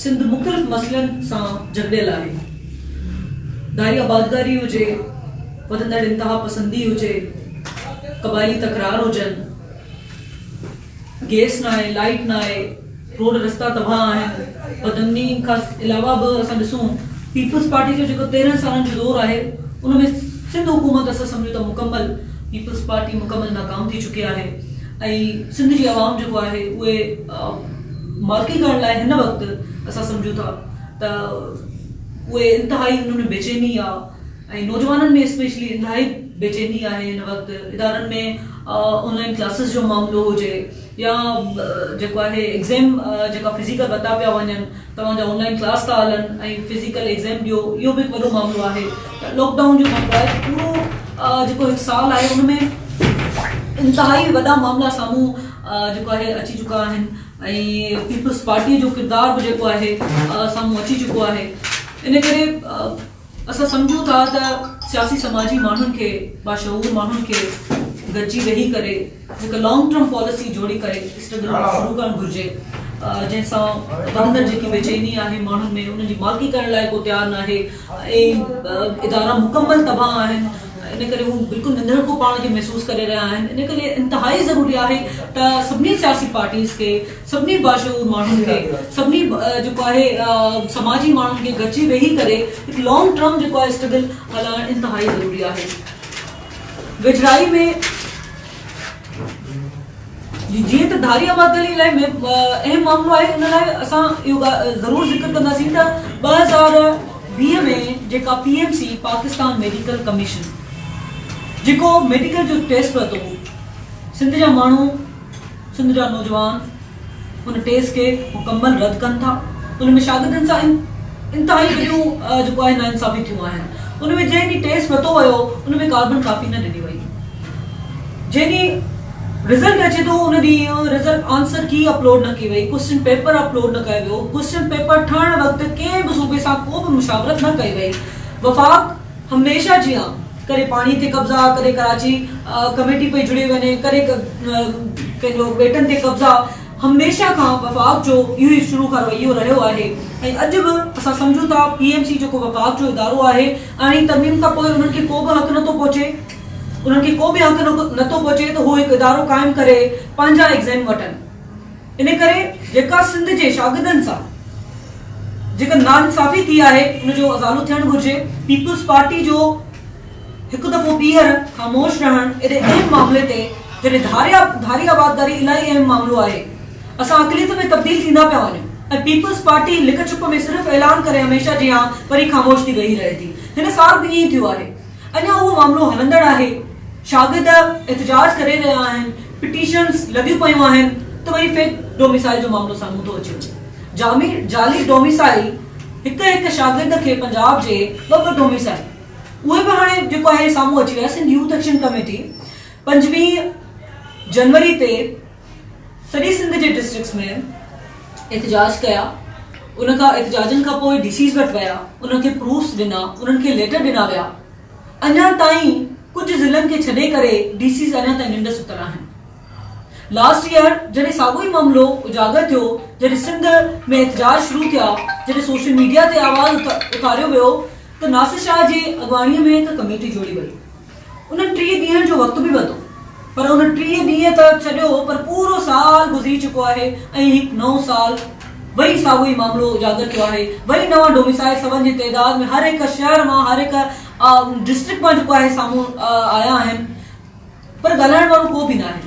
سنڌ مختلف مسئلن سان جڪڙيل آهي، ڏاهي آبادگاري هجي، وڌندڙ انتهاپسندي هجي، قبائلي تڪرار هجن، گئس ناهي، لائيٽ ناهي، روڊ رستا تباهه آهن، بدامني کان علاوه به اسان ڏسون پيپلز پارٽي جو جيڪو تيرنهن سالن جو دور آهي ان ۾ سنڌ حڪومت اسان سمجهون ته مڪمل پيپلز پارٽي مڪمل ناڪام ٿي چڪي آهي ۽ سنڌ جي عوام جيڪو آهي اهي مالڪي ڪرڻ لاء هن وقت اسان سمجهون ٿا ته اهي انتهائي انهن ۾ بيچيني آ ۽ نوجوانن ۾ اسپيشلي انتهائي بيچيني آهي هن وقت ادارن ۾ آن لائن ڪلاسز جو معاملو هجي يا جيڪو آهي ايگزيم جيڪا فزيڪل ورتا پيا وڃن توهان جا آن لائن ڪلاس ٿا هلن ۽ فزيڪل ايگزيم ڏيو اهو به هڪ وڏو معاملو آهي لاڪ ڊائون جو معاملو آهي پورو جيڪو هڪ سال آهي ان ۾ انتهائي وڏا معاملا سامهون جيڪو آهي اچي چڪا آهن ۽ پيپلز پارٽي جو ڪردار به جيڪو آهي سامهون اچي چڪو آهي ان ڪري اسان سمجهون ٿا ته سياسي سماجي ماڻهن کي باشعور ماڻهن کي گڏجي ويهي ڪري هڪ لانگ ٽرم پاليسي جوڙي ڪري اسٽرگل شروع ڪرڻ گهرجي جنهن سان اندر جيڪي بيچيني آهي ماڻهن ۾ ان جي مالڪي ڪرڻ لاء ڪو تيار ناهي اهي ادارا مڪمل تباهه آهن ان ڪري هو بلڪل ننڌڻڪو پاڻ کي محسوس ڪري رهيا آهن ان ڪري انتهائي ضروري آهي ته سڀني سياسي پارٽيز کي سڀني باشعور ماڻهن کي سڀني جيڪو آهي سماجي ماڻهن کي گڏجي ويهي ڪري هڪ لانگ ٽرم جيڪو آهي اسٽرگل هلائڻ انتهائي ضروري آهي ويجهڙائي ۾ جي جيئن ته ڌاري آبادگاري لاء اهم معاملو آهي ان لاء اسان اهو ڳالهه ضرور ذڪر ڪنداسين ته ٻه هزار ويهه ۾ جيڪا P M C Pakistan medical commission جيڪو ميڊيڪل جو ٽيسٽ ورتو سنڌ جا ماڻهو سنڌ جا نوجوان ان ٽيسٽ کي مڪمل رد ڪن ٿا ان ۾ شاگردن سان انتهائي وڏيون جيڪو آهي نا انصافي ٿيون آهن ان ۾ جنهن ڏينهن ٽيسٽ ورتو ويو ان ۾ ڪاربن ڪاپي نه ڏني وئي جنهن ڏينهن رزلٽ اچي ٿو ان ڏينهن رزلٽ آنسر ڪي اپلوڊ نه ڪئي وئي، ڪوئسچن پيپر اپلوڊ نه ڪيو ويو، ڪوئسچن پيپر ٺهڻ وقت ڪنهن به صوبي سان ڪو به مشاورت نه ڪئي وئي، وفاق هميشه جيان ڪڏهن پاڻي تي قبضا، ڪڏهن ڪراچي ڪميٽي پئي جڙي وڃي، ڪڏهن ڪنهن جو ٻيٽن تي قبضا، هميشه کان وفاق جو اهو ئي شروع کان رويو رهيو آهي ۽ اڄ به اسان سمجهون ٿا پي ايم سي جيڪو وفاق جو ادارو آهي، اهڙي ترميم کان پوء انهن کي ڪو به حق نٿو پهچي. انهن کي ڪو به حق نٿو پهچي ته هو هڪ ادارو قائم ڪري پنهنجا ايگزيم وٺن ان ڪري جيڪا سنڌ جي شاگردن سان جيڪا ناانصافي ٿي آهي ان جو ازالو ٿيڻ گهرجي پيپلز پارٽي جو هڪ دفعو ٻيهر خاموش رهڻ ايڏي اهم معاملي تي جڏهن ڌاريا ڌاري آبادگاري الاهي اهم معاملو آهي اسان اقليت ۾ تبديل ٿيندا پيا وڃون ۽ پيپلز پارٽي لڪ ڇپ ۾ صرف اعلان ڪري هميشه جيان وري خاموش ٿي ويهي رهي ٿي هن سال به ائين ٿيو آهي اڃا اهو معاملو هلندڙ آهي، شاگرد احتجاج ڪري رهيا آهن، پٽيشنز لڳيون پيون آهن ته وري فيڪ ڊوميسائل جو معاملو سامهون ٿو اچي وڃي. جامي جعلي ڊوميسائل هڪ هڪ شاگرد کي پنجاب جي ٻه ٻه ڊوميسائل اهي به هاڻي جيڪو آهي سامهون اچي ويا. سنڌ يوٿ ايڪشن ڪميٽي پنجويهه جنوري تي سڄي سنڌ جي ڊسٽرڪٽس ۾ احتجاج ڪيا ان کان احتجاجن کان پوء ڊي سيز وٽ ويا انهن کي پروفس ڏنا انهن کي ليٽر ڏنا ويا اڃا تائين ڪجهه ضلعن کي ڇڏي ڪري ڊي سيز اڃا تائين ننڊ ستل آهن لاسٽ ايئر جڏهن ساڳو ئي معاملو اجاگر ٿيو جڏهن سنڌ ۾ احتجاج شروع ٿيا جڏهن سوشل ميڊيا تي آواز اٿاريو ويو ته ناصر شاهه جي اڳواڻي ۾ هڪ ڪميٽي جوڙي وئي انهن ٽيهه ڏينهن جو وقت به وڌو پر ان ٽيهه ڏينهن ته ڇڏيو پر پورو سال گذري چڪو آهي ۽ هڪ نئون سال وري ساڳيو ئي معاملو اجاگر ٿيو آهي وري نوان ڊوميسائيل سون جي تعداد ۾ هر هڪ شهر مان هر هڪ ڊسٽرڪٽ مان جيڪو آهي سامهون آيا آهن پر ڳالهائڻ وارو ڪو به ناهي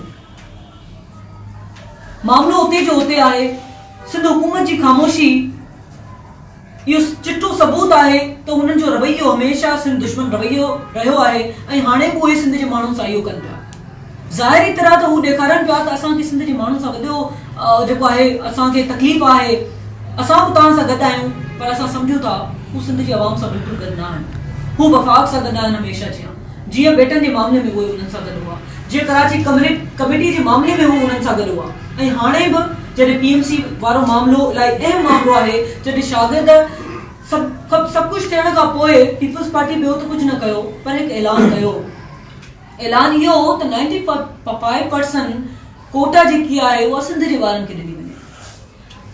معاملو اتي جو اتي آهي سنڌ حڪومت جي خاموشي اهو چٽو ثبوت آهي ته هنن جو رويو هميشه سنڌ دشمن رويو رهيو آهي ۽ هاڻي به اهي سنڌ جي ماڻهن سان اهو ڪن پيا. ظاهري طرح ته هو ڏيکارن پيا ته اسان کي سنڌ جي ماڻهن سان وڏو جيڪو آهي اسان کي تڪليف آهي اسان به توهان سان گڏ آهيون پر اسان سمجهون ٿا هو سنڌ جي عوام سان بلڪل گڏ نه آهن هو وفاق سان گڏ آهن هميشه جيان جيئن ٻيٽن جي معاملي ۾ اهي انهن سان گڏ هئا. جيئن ڪراچي ڪمريڊ ڪميٽي جي معاملي ۾ هو انهن سان گڏ هئا ۽ هاڻي به جڏهن پي ايم سي وارو معاملو الاهي اهم معاملو آهي جڏهن شاگرد سڀ سڀ سڀ ڪجهه ٿيڻ کان پوء پيپلز پارٽي ٻيو ته ڪجهه نه ڪيو پر هڪ اعلان ڪيو اعلان اهو هو ته نائنٽي فائيو پرسن ڪوٽا جيڪي آهي اها سنڌ جي ٻارن کي ڏني وڃي.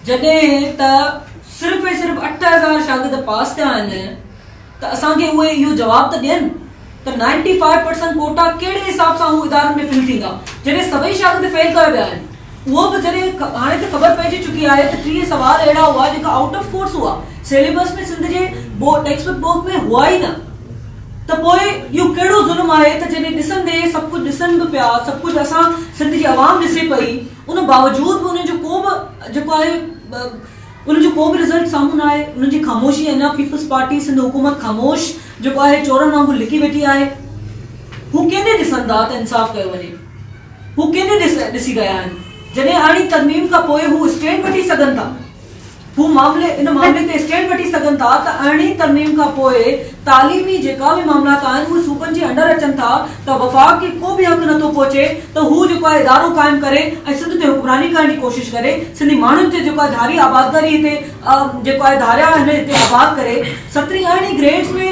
جڏهن ته صرف ۽ صرف اٺ هزار شاگرد پاس ٿيا آهن ته اسان کي اهي اهو جواب ته ڏين ته نائنٽي فائيو پرسنٽ ڪوٽا ڪهڙي حساب سان اهو ادارن ۾ فل ٿيندا جڏهن سڀئي شاگرد فيل ڪيا ويا آهن اهو به جڏهن هاڻي ته خبر پئجي چڪي آهي ته ٽيهه سوال اهڙا هئا جيڪا آئوٽ آف ڪورس هئا سيليبس ۾ سنڌ جي ٽيڪسٽ بڪ بوڪ ۾ هئا ئي نه ته پوء اهو ڪهڙو ظلم آهي ته جڏهن ڏسندي سڀ ڪجهه ڏسن به پيا سڀ ڪجهه اسان سنڌ جي عوام ڏسي پئي ان باوجود به انهن جو ڪو به جيڪو آهي انهن جو ڪو به رزلٽ سامهون نه آهي، انهن جي خاموشي اڃا پيپلز پارٽي سنڌ حڪومت خاموش جيڪو آهي چورن وانگر لڪي ويٺي آهي، هو ڪنهن ڏي ڏسن ٿا ته انصاف ڪيو وڃي، هو ڪنهن ڏي ڏسي رهيا آهن، جڏهن اڻي ترميم کان پوء هو اسٽينڊ وٺي سگهن ٿا. هو معاملي ان معاملي تي اسٽينڊ وٺي سگهن ٿا ته ارڙهين ترميم کان پوء تعليمي جيڪا به معاملات آهن اهي صوبن جي انڊر اچن ٿا ته وفاق کي ڪو به حق نٿو پهچي ته هو جيڪو آهي ادارو قائم ڪري ۽ سنڌ تي حڪمراني ڪرڻ جي ڪوشش ڪري سنڌي ماڻهن تي جيڪو آهي ڌاري آبادگاري هتي جيڪو آهي ڌاريا هن هتي آباد ڪري سترهين ارڙهين گريڊز ۾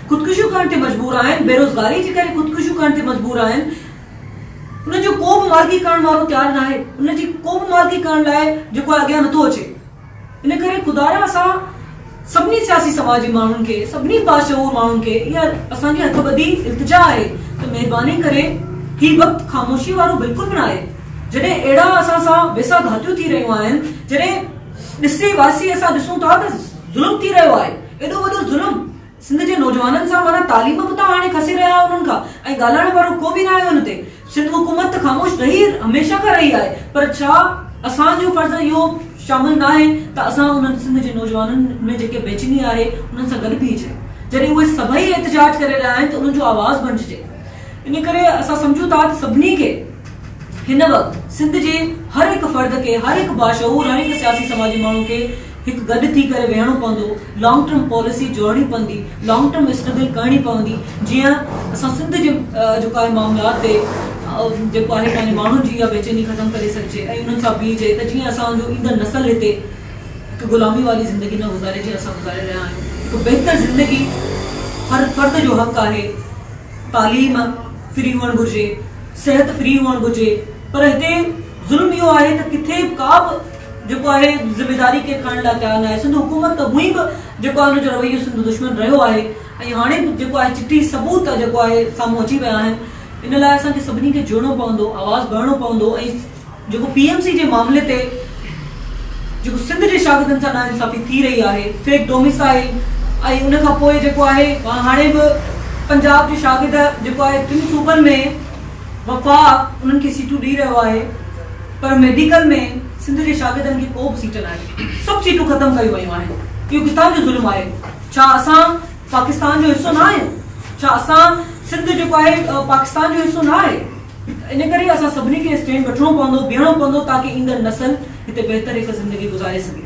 خودڪشيون ڪرڻ تي مجبور آهن، بيروزگاري جي ڪري خودڪشيون ڪرڻ تي مجبور آهن، ان جو ڪو به معالجي ڪرڻ وارو تيار ناهي، ان جي ڪو به معالجي ڪرڻ لاء جيڪو آهي اڳيان نٿو اچي، ان ڪري خدا را اسان سڀني سياسي سماج جي ماڻهن کي، سڀني باشعور ماڻهن کي اها اسان جي هٿ ٻڌي التجا آهي ته مهرباني ڪري هي وقت خاموشي وارو بلڪل به ناهي، جڏهن اهڙا اسان سان ويساهه گهاتيون ٿي رهيون آهن، جڏهن ڏسي واسي اسان ڏسون ٿا ته ظلم ٿي رهيو آهي، ايڏو وڏو ظلم سنڌ جي نوجوانن سان معنيٰ تعليم به ته هاڻي کسي رهيا آهيو انهن کان ۽ ڳالهائڻ وارو ڪو به ناهي ان تي سنڌ حڪومت ته خاموش رهي هميشه کان رهي آهي پر ڇا اسان جو فرض اهو شامل ناهي ته اسان انهن سنڌ جي نوجوانن ۾ جيڪي بيچيني آهي انهن سان گڏ بيهجي جڏهن اهي سڀئي احتجاج ڪري رهيا آهن ته انهن جو آواز بڻججي ان ڪري اسان سمجهون ٿا ته سڀني کي هن وقت سنڌ جي هر هڪ فرد کي هر هڪ باشعور هر هڪ سياسي سماجي ماڻهو کي هڪ گڏ ٿي ڪري ويهڻو پوندو، لانگ ٽرم پاليسي جوڙڻي پوندي، لانگ ٽرم اسٽرگل ڪرڻي پوندي جيئن اسان سنڌ جي جيڪو آهي معاملات تي جيڪو آهي پنهنجي ماڻهن جي اها بيچيني ختم ڪري سگهجي ۽ انهن سان بيهجي ته جيئن اسان جو ايندڙ نسل هتي هڪ غلامي واري زندگي نه گذاري جيئن اسان گذاري رهيا آهيون هڪ بهتر زندگي هر فرد جو حق آهي تعليم فري هئڻ گهرجي صحت فري هئڻ گهرجي پر هتي ظلم اهو آهي ته ڪٿي ڪا به جيڪو آهي ذميداري ڪير کڻڻ لاء تيار ناهي سنڌ حڪومت ته هونئن به جيڪو آهي ان جو رويو سنڌ دشمن رهيو آهي ۽ هاڻي به جيڪو آهي چٽي ثبوت جيڪو آهي سامهون اچي ويا آهن ان لاء اسان کي سڀني کي جڙڻو پوندو آواز ڀرڻو پوندو ۽ جيڪو پي ايم سي جي معاملي تي جيڪو سنڌ جي شاگردن سان ناانصافي ٿي رهي آهي فيڪ ڊوميسائل ۽ ان کان پوء جيڪو آهي هاڻي به پنجاب جي شاگرد جيڪو آهي ٽن صوبن ۾ وفاق انهن کي سيٽون ڏئي رهيو آهي پر ميڊيڪل ۾ سنڌ جي شاگردن کي ڪو به سيٽ ناهي سڀ سيٽون ختم ڪيون ويون آهن اهو ڪٿان جو ظلم آهي ڇا اسان پاڪستان جو حصو نه آهيون ڇا اسان سنڌ جيڪو آهي پاڪستان جو حصو نه آهي ان ڪري اسان سڀني کي اسٽينڊ وٺڻو پوندو بيهڻو پوندو تاڪي ايندڙ نسل هتي بهتر هڪ زندگي گذاري سگهي